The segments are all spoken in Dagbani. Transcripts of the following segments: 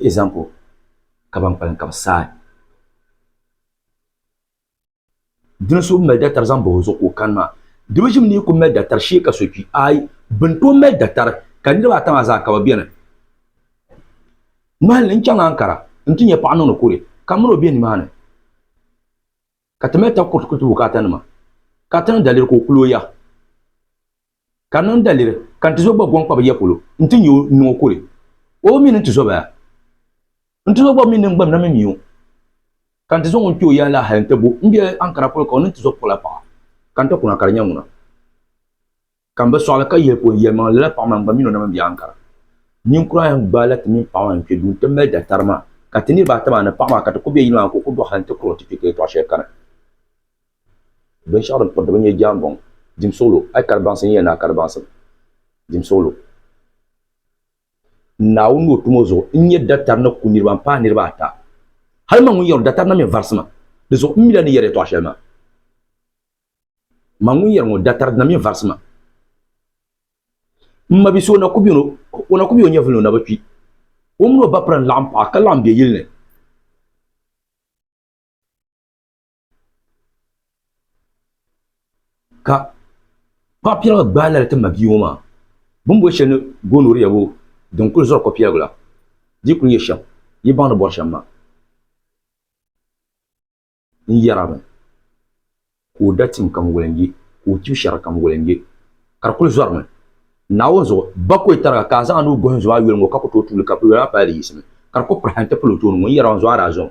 Example, Ka ban kpalim ka bɛ saai. Dini so bi mali datari zaŋ bahi o zuɣu ka o kani maa, di bi ʒim ni yi ku mali datari shee ka so kpi. Aai, bɛ ni tooi mali datari ka niriba ata maa zaa ka bɛ beni. Ŋmahinli, N chaŋ Ankara nti nya paɣa niŋdi kuri ka mini o be nimaani ka ti mali takuriti kuli ti bukaatanima ka ti niŋ daliri ka o kuli o ya. Ka niŋ daliri, ka n-ti zo gba gɔŋ kpabi ya polo nti nya o niŋ o kuli. O mi ni nti zo ba ya. Nti zo gba mi ni n-gba na mi mi o. Ka nti zaŋ o n-kpe o ya la hal nti bo m biɛhi ankara polo ka o ni nti zo pula paɣa. Ka n ti kuna ka di nya ŋuna. Ka m bi sɔɣili ka yihi po n yɛlimaŋli lala paɣa maa n-gba mi ni o na mi m biɛhi ankara. Ninkura ayi n-gbaai la ti mini paɣa maa n-kpe duu nti mali daɣitari maa. Ka ti niriba ata maa ni paɣa maa ka ti kuli be yili maa ka o kuli dɔɣi hal nti kuri o nti kpe ka yɛtɔɣ shɛli kani. Binshɛɣu din piriti bi nyɛ jaanbɔŋ, dimsuɣilo, a yi kari baŋsim yiya ni a kari baŋsim, dimsuɣilo. Naawuni ni o tumo zuɣu n nyɛ datari ni ku niriba m-paai niriba ata. Hal man ŋun yɛri o datari na mi varisi maa, di zuɣu m mila ni yɛri yɛtɔɣ shɛli maa. Man ŋun yɛri ŋɔ datari na mi varisi maa, m mabisi o na ku beni o na ku be o nyɛvuli ni o na bi kpi. O mini o bapira n-laɣim paɣa ka laɣim be yili ni. Ka paɣa piɛlli ŋɔ gbaai lari timdi bia ŋɔ maa bini boli sheli ni gonorrhea ŋɔ din kuli zori kopiɛgu la di kuli nyɛ shem yi baŋ ni bori shem maa n yerimi ka o da tim kam welengi ka o chibi sheri kam welengi ka di kuli zorimi naawuni zuɣu ba ka o yeti tariga ka a zaŋ a nuu gohi n zo a yoli ŋɔ ka ku tooi tuuli ka yoli maa pali di yiɣisimi ka di kuli pirihina n ti pili o tooni ŋɔ n yerimi n zo a daa zom.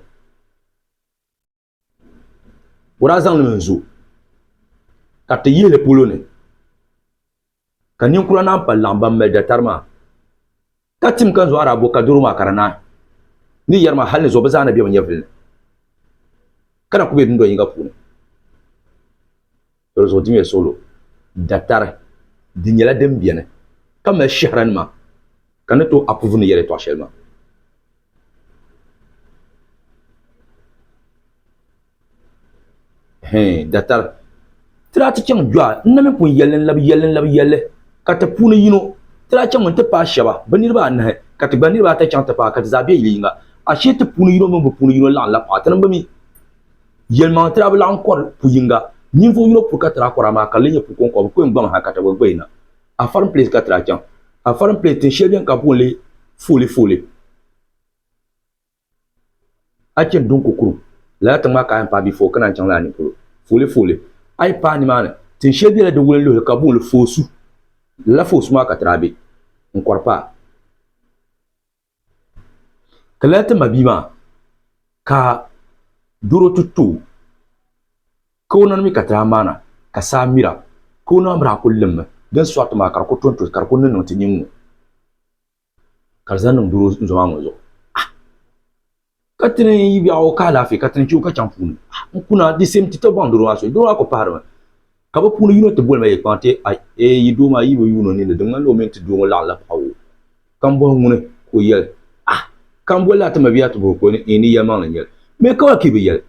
o daa zaŋlim n-zo ka ti yihili polo ni ka ninkura naan pali laɣim ban mali datari maa ka tim ka n zo Arabo ka doro maa ka di naai ni yɛri maa hal ni zuɣu bɛ zaa ni be bɛ nyɛvili ni ka na ku be dundoli yiŋga puuni. Doli zuɣu dimiya suɣulo datari di nyɛla din beni ka mali shɛhranima ka ni tooi approve ni yɛlitɔɣa shɛli maa. Hɛɛn, datari ti daa ti chaŋ Joa n na mini pun yɛlli n-labi yɛlli n-labi yɛlli ka ti puuni yino ti daa chaŋmi nti paai shɛba bɛ niriba anahi ka ti gba niriba ata chaŋ ti paai ka ti zaa be yili yiŋga. Ashee ti puuni yino mini bɛ puuni yino laɣim la paɣa ti niŋ bɛ mi. Yɛlimaŋli tira bi laɣim kɔri pu yiŋga. Ninvuɣ yino puri ka tira kɔri, amaa ka lee nyɛ pu kɔŋkɔba. Bɛ ku yɛn gbaŋ ha ka taba gba yi na. A farim pileesi ka tira chaŋ. A farim pileesi tin shɛli beni ka bɛ booni li Foolefoole. A chani Dunko kurum. Lala tiŋ maa ka a yɛn paai bia foo ka naan chaŋ lala nini polo Foolefoole. A yi paai nimaani, tin shɛli bela di wulinluhi ni ka bɛ booni li Foosu. Lala Foosu maa ka tira be n-kɔri paai. Ka lala ti mabia maa ka doro ti to ka o nani mi ka ti daa maana ka saa mira ka o naba mi daa kuli limmi din sɔri ti maa ka di kuli tonto ka di kuli niŋniŋ ti nyin ŋɔ ka di zaŋ niŋ doro n-zo maa ŋɔ zuɣu. ka ti ni yi biɛɣu ka alaafee ka ti ni chɛ o ka chaŋ puuni n kuna di same ti tɔbɔŋ doro maa so doro maa kuli pahirimi ka bi puuni yino ti boli ma yɛlkpaŋ ti a ee yi doo maa yi bi yuun o ninni di ŋmanila o mini ti doo ŋɔ laɣim la paɣibu ka m bɔhi ŋuni ka o yɛli ah ka m bolila ti mabia ti bɔhi ka o ni ee ni yɛlimaŋli n-nyɛli mi ka ba pii bi yɛli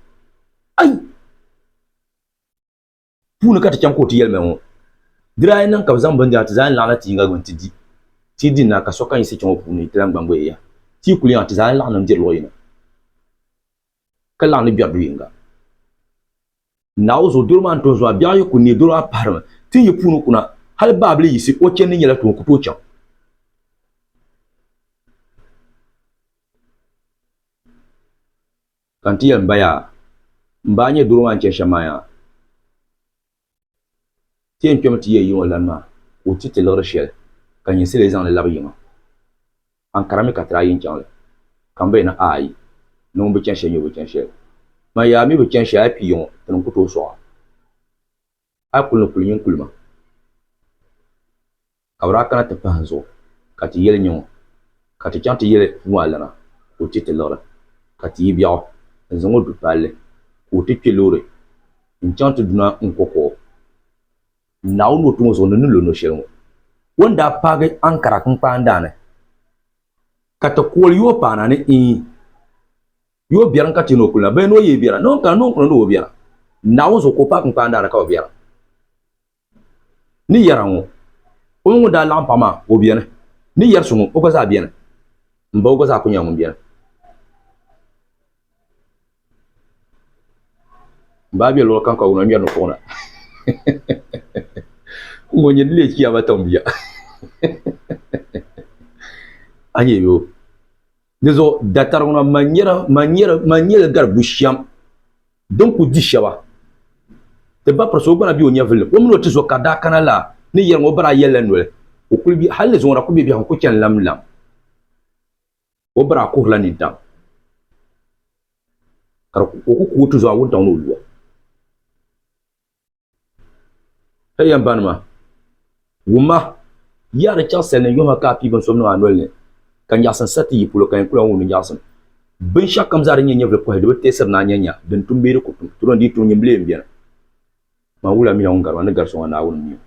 ai puuni ka ti chaŋ ka o ti yɛlima ŋɔ di daa niŋ ka bi zaŋ bindira ti zaa ni laɣina ti yinga gbuni ti di ti di na ka sokam yiɣisi chaŋ o puuni ti lan gbangi o yaha ti yi kuli yaŋa ti zaa ni laɣim diri luɣ yini ka laɣim ni gbɛri du yinga Naawuni zuɣu doro maa ni tooi zɔya biɛɣu yi ku neei doro maa pahirimi ti ni yi puuni kuna hali baabili yiɣisi o chɛndi nyɛla tuun ku tooi chaŋ Ka n ti yɛli m ba yaa, M ba, a nyɛ doro maa ni chani shɛm maa yaa? Ti yɛn kpɛmi ti yɛ yiŋɔ lani maa ka o ti ti liɣiri shɛli ka nyɛ sili zaŋ li labi yiŋa. Ankara mi ka ti daa yɛn chaŋ li, ka m ba yɛli ni, Aai, ni ŋun bi chani shɛli nyɛ o bi chani shɛli. Maa yaa mi bi chani shɛli a kpi yiŋɔ, ti ni ku tooi sɔɣ a. a yi kuli ni kuli nyin kuli ma, ka bɛ daa kana ti pahi n zuɣu, ka ti yɛli nyaŋɔ, ka ti chaŋ ti yɛli Nuhu alana ka o ti ti liɣiri, ka ti yi biɛɣu n zaŋ o du palli, ka o ti kpe loori n chaŋ ti duna n ko kuɣu. Naawuni ni o ti ŋɔ zuɣu ni ni lo no shɛli ŋɔ. O ni daa paagi Ankara kinkpaandaani, ka ti kooli yooi paana ni iin. Yi o biɛrim ka ti ni o kulina, bee ni o yi yi biɛra, ni o ni kana ni o ni kuli ni o biɛra, Naawuni zuɣu ka o paai kinkpaan daana ka o biɛra. Ni yɛra ŋɔ, o mi ŋun daa laɣim paɣa maa, o biɛni. Ni yɛri so ŋɔ, o gba zaa biɛni. M ba, o gba zaa kuli nyɛla ŋun biɛni. M ba be luɣili kam ka wuna ŋmɛri ni kuɣu na. Ŋɔ nyini leei chiyaama tiŋ bia. A nya yi o. Di zuɣu datariga ŋɔ man nyɛla man nyɛla man nyɛla gari bushɛm din ku di shɛba. Ti ba pirisi o gba na be o nyɛvili ni. O mini o tizo ka daa kana la ni yɛliŋ o ba daa yɛlila noli o kuli be hali ni zuŋɔ na kuli be biɛhigu n-kuli chani lam lam. O ba daa kuhirila nintaŋ ka o ku ku o tizo a wuntaŋ ni o lu a. Hey yan ba nima, wumma, yiya di chaɣisili ni yuhi ka a pii binsom niŋ a noli ni, ka nyaɣisim sa ti yi polo, ka yɛn ku lan wumdi nyaɣisim. Binshɛɣu kam zaa din nyɛ nyɛvili pɔhi di bi teesiri ni a nya nya, din tum bee di ku tum, ti lo n-dii tum nyimbile m-beni. Ŋmanwula mi la ŋun gari ma ni gari so ŋɔ Naawuni mi o.